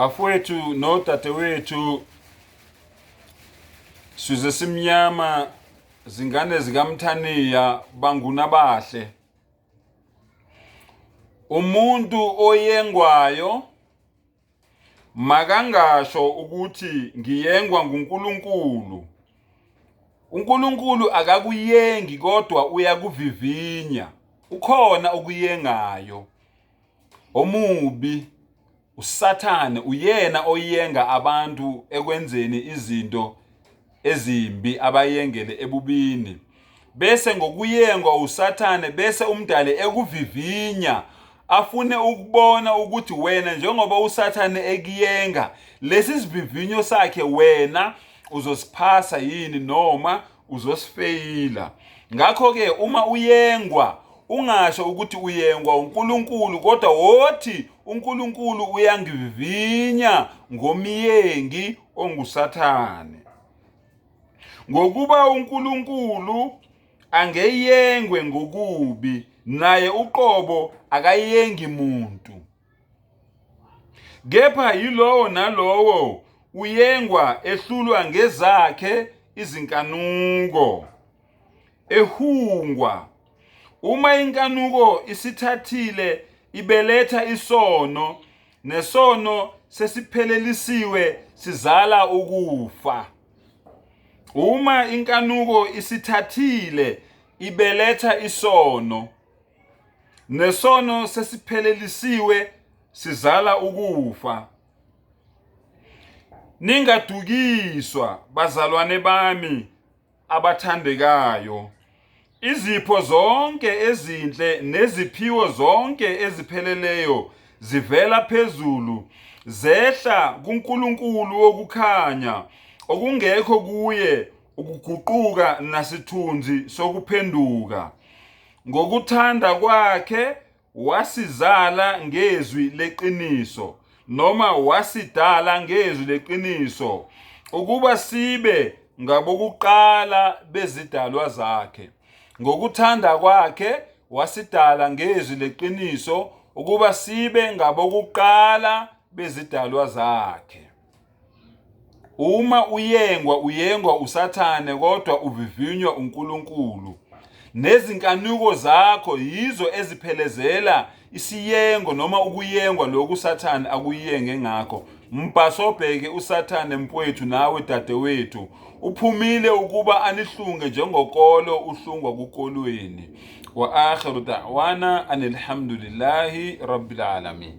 bafowethu nodadewethu size simnyama zingane zikamthaniya banguna bahle umuntu oyengwayo makangasho ukuthi ngiyengwa nguNkulunkulu uNkulunkulu akakuyengi kodwa uyakuvivinya ukhona okuyengayo omubi usathane uyena oyenga abantu ekwenzeni izinto ezimbi abayengele ebubini bese ngokuyengwa usathane bese umdali ekuvivinya afune ukubona ukuthi wena njengoba usathane ekuyenga lesi sivivinyo sakhe wena uzosiphasa yini noma uzosifeyila ngakho-ke uma uyengwa ungasho ukuthi uyengwa uNkulunkulu kodwa wothi uNkulunkulu uyangivivinya ngomyengi onguSathane. Ngokuba uNkulunkulu angeyengwe ngokubi naye uqobo akayengi muntu kepha yilowo nalowo uyengwa ehlulwa ngezakhe izinkanuko ehungwa uma inkanuko isithathile ibeletha isono nesono sesiphelelisiwe sizala ukufa uma inkanuko isithathile ibeletha isono nesono sesiphelelisiwe sizala ukufa ningadukiswa bazalwane bami abathandekayo izipho zonke ezinhle neziphiwo zonke ezipheleleyo zivela phezulu zehla kuNkulunkulu wokukhanya okungekho kuye ukuguquka nasithunzi sokuphenduka ngokuthanda kwakhe wasizala ngezwi leqiniso noma wasidala ngezwi leqiniso ukuba sibe ngabokuqala bezidalwa zakhe ngokuthanda kwakhe wasidala ngezwi leqiniso ukuba sibe ngabokuqala bezidalwa zakhe Uma uyengwa uyengwa usathane kodwa uvivinywa uNkulunkulu. Nezinkanuko zakho yizo eziphelezela isiyengo noma ukuyengwa lokhu usathane akuyenge ngakho. Mbhasobheke usathane mfwethu nawe dadewethu. Uphumile ukuba anihlunge njengokolo uhlungwa kukolweni. Wa akhiru da'wana anilhamdulillahi rabbil alamin.